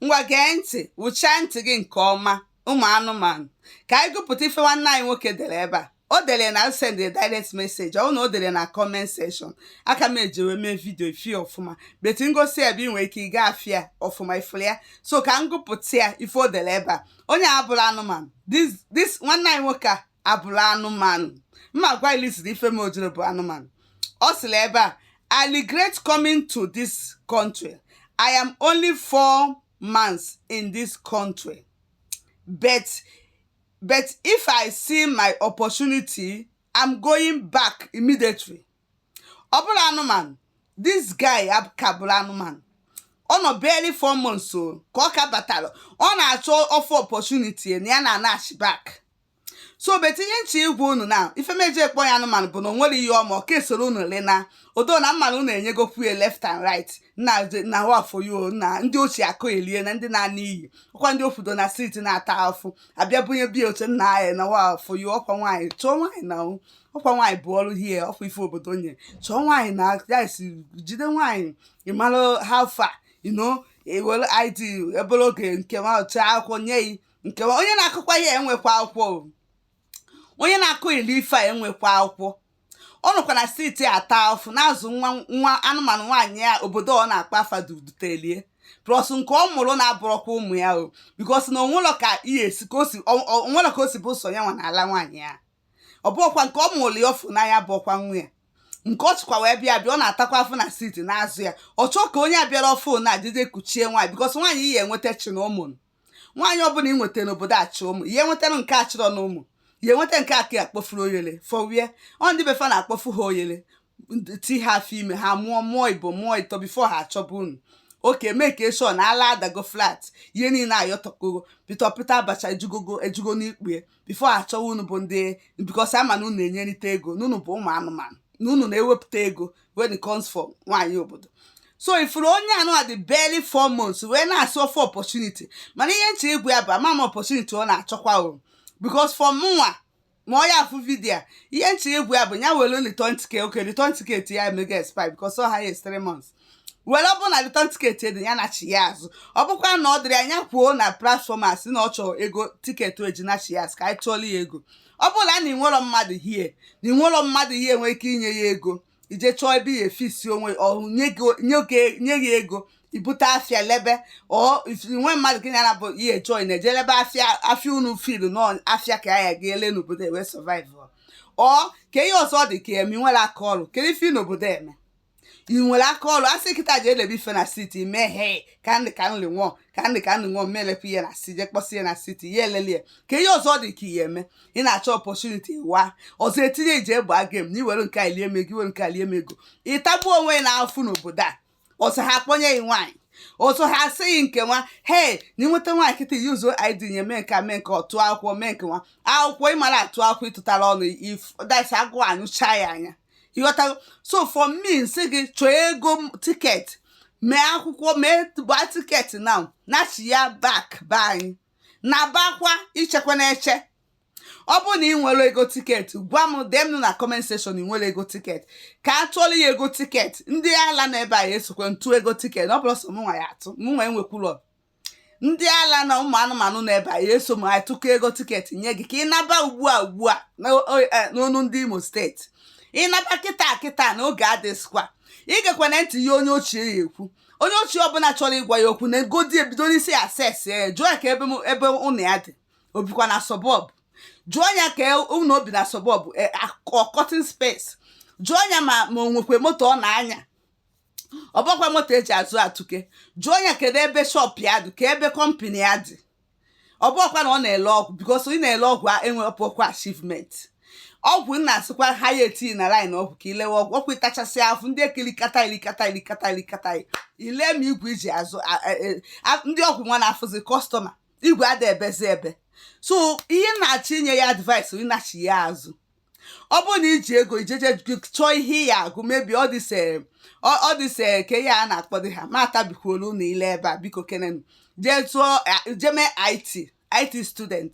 ngwa gee ntị wụchaa ntị gị nke ọma ụmụ anụmanụ ka anyị gụpụta ife nwanne anyị nwoke dere ebe a o dere na send direct message ọ na o dere na comment section aka m eji wee mee vidio ị fụ ya ọfụma but ngosi ebe ị nwere ike ị ga-afụ ya ọfụma ị fụrụ ya so ka m gụpụta ya ife o dere ebe a onye a abụrọ anụmanụ this nwanne anyị nwoke a abụrọ anụmanụ m ma agwa ị reason ife m o jiri bụ anụmanụ ọ sịrị ebe a i regret coming to this country i am only four months in this country but but if i see my opportunity i'm going back immediately ọ bụrọ anụmanụ this guy ka abụrọ anụmanụ ọ nọ barely four months o ka ọ ka batara ọ na-achọ ọ fụ opportunity na ya na-anachi back so but ihe m chọ ịgwa unu na ife m eji kpọ ya anụmanụ bụ na o nwere ihe ọ ma ọ ka esorọ unu lena odo na mmanụ unu enyegokwu ya left and right na na wafoyo na ndị ochie akụ elie na ndị na-ana iyi ọkwa ndị ụfọdụ na street na-ata afụ abịa bunye bia oche nna anyị na wafoyo ọkwa nwaanyị chọọ nwaanyị na ọkwa nwaanyị bụ ọrụ here ọkwa ife obodo nye chọọ nwaanyị na ya si jide nwaanyị ịmara ha fa ino ewere id obere oge nke ma ọcha akwụkwọ nye yi nke ma onye na-akụkwa ya enwekwa akwụkwọ o. onye na-akụ ili ife a enwekwa akwụkwọ ọ nọkwa na street ata afụ na-azụ nwa nwa anụmanụ nwaanyị a obodo ọ na-akpa afa dutelie plus nke ọ mụrụ na-abụrọkwa ụmụ ya o because na o nwelọ ka ihe esi ka o si ọ- ọ- o nwelọ ka o si bụ sọ ya nwa na-ala nwaanyị a ọ bụkwa nke ọ mụrụ ya ọ fụ n'anya abụrọkwa nwa ya nke ọ chịkwa wee bịa bịa ọ na-atakwa afụ na street na-azụ ya ọ chọọ ka onye a bịara ọfụụ na adịdị kuchie nwaanyị because nwaanyị ihe enweta chi na ụmụ nwaanyị ọbụla ị nweta n'obodo achị ụmụ ihe nwetara nke achịrọ na ụmụ ya enweta nke aka ya akpọfuru oyele fọwie ọ ndị befa na-akpọfu ha oyele ti ha afọ ime ha mụọ mụọ ịbụọ mụọ ịtọ before ha achọba unu oke mee ka eshọ na ala adago flat ihe niile ayọtọkoro pịtọ pịta abacha ejugogo ejugo n'ikpue before achọwa unu bụ ndị because a ma na unu enyerịta ego na unu bụ ụmụ anụmanụ na unu na-ewepụta ego when it comes for nwaanyị obodo so ị fụrụ onye anụ a dị barely four months wee na-asị ọ fụ opportunity mana ihe m chọ ịgwa ya bụ ama m opportunity ọ na-achọkwa o because for mụnwa ma ọ ya-afụ vidio a ihe m chọ ịgwa ya bụ ya were return ticket okay return ticket ya emego expire because ọ ha ya three months were ọ bụrụ na return ticket dị ya nachi ya azụ ọ bụkwa na ọ dịrọ nya kwuo na platform a sị na ọ chọrọ ego ticket o ji nachi ya azụ ka anyị tụọlụ ya ego ọ bụrụ na ị nwerọ mmadụ here na ị nwerọ mmadụ here nwere ike inye ya ego ije chọọ ebe ị ya efisi onwe ọhụ nye gị ego ibute afịa lebe ọ nwe mmadụ gị na bụ ihe chọọ ị na-eje lebe afịa afịa unu filu na afịa ka ị ya ele n'obodo wee survive ọ ka ihe ọzọ dị ka eme ị nwere aka ọrụ kedu ife ị nọ obodo eme ị nwere aka ọrụ asị kịta jee lebe ife na siti mee he ka ndị ka nri nwụọ ka ndị ka nri nwụọ melepụ ihe na si je kpọsị ihe na siti ya elelie ka ihe ọzọ dị ka ihe eme ị na-achọ opportunity wa ọzọ etinye iji egbe aga m na iwere nke a lie mego iwere nke a lie mego ịtagbuo onwe ya n'afụ n'obodo a ọzọ ha akpọnye gị nwaanyị ọzọ ha asị gị nke nwa hei na ịnweta nwaanyị kịta yuzuo id nye mee nke a mee nke ọtụ akwụkwọ mee nke nwa akwụkwọ ịmara atụ akwụkwọ ịtụtara ọnụ if that's agụ anyụcha ya anya ịghọtago so for me nsị gị chọọ ego tiketi mee akwụkwọ mee gbaa tiketi na nachigha back be anyị nabakwa ichekwa na-eche ọ bụrụ na ị nwere ego tiketi gwa m dee m na comment section ị nwere ego tiketi ka a tụọla ya ego tiketi ndị ala na ebe a ya esokwa atụ ego tiketi ọ bụrụ sọ m nwa ya atụ m nwa enwekwulọ ndị ala na ụmụ anụmanụ na ebe a ya eso m anyị tụkọ ego tiketi nye gị ka ị naba ugbu a ugbu a e, n'onu ndị imo state ịnaba kịta kịta na oge adịzịkwa igekwana ntị ihe onye ochie ya ekwu onye ochi ọbụla chọrọ ịgwa ya okwu neegodi ebido n'isi ya assess ya jụọ ya kee ebe ụnọ ya dị o bikwa na suburb jụọ ya kee ụnọ o bi na suburb ọ cutting e, space jụọ ya ma ma o nwekwe moto ọ na-anya ọ bụkwa moto eji azụ atụke jụọ ya kedu ebe shop ya dị kee ebe company ya dị ọ bụ ọkwa na ọ na-ele ọgwụ because ị na-ele ọgwụ enwere pụkwa achievement ọgwụ m na-asịkwa ha ya etinye na line ọgwụ ka ilewe ọgwụ ọkwa ịtachasị afụ ndị eke ilikata ilikata ilikata ilikata ile ma igwe iji azụ e, ndị ọgwụ nwa na-afụzi customer igwe ada ebezi ebe so ihe m na-achọ inye ya advice ịnachigha azụ ọ bụrụ na iji ego ijeje chọọ ihe ị ya agụ maybe ọ dịse ọ dịse kee ihe a na-akpọdị ha m atabikwuolu unu ile ebe a biko kenenu jee tụọ jeme it it student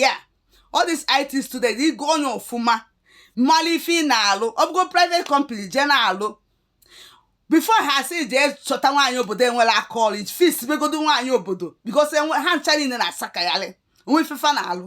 ya ọ dịs it student ịgụọ ya ọfụma malụ ife ị na-alụ ọ bụgo private company jee na-alụ before ha si jee chọta nwaanyị obodo nwere aka ọrụ fis begodo nwaanyị obodo because ha ncha niile na-asakagharị o nwe ife fa na-alụ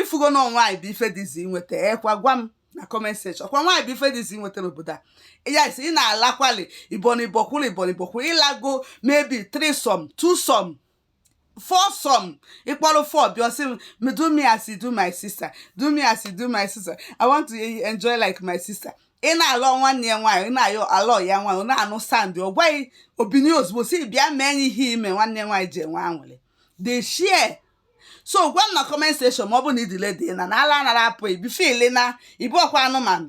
ịfugo na nwaanyị bụ ife dị easy nweta ọkwa gwa m na comment section kwa nwaanyị bụ ife dị easy nweta n'obodo a yes ị na-alakwali ibonibokwuru ibonibokwuru ịlago maybe threesome twosome foursome ịkpọrọ four bịa ọ sị do me as you do my sister do me as you do my sister i want to enjoy like my sister ị na-ala nwanne ya nwaanyị ị na-ayọ alọ ya nwaanyị ọ na-anụ sound ọ gwaghị obinye ozugbo sị bịa mee ihe ime nwanne nwaanyị ji enwe anwụrị the share so gwa m na comment section ma ọ bụ na idile dị na na ala anara apụ ibi fili na ibu ọkwa anụmanụ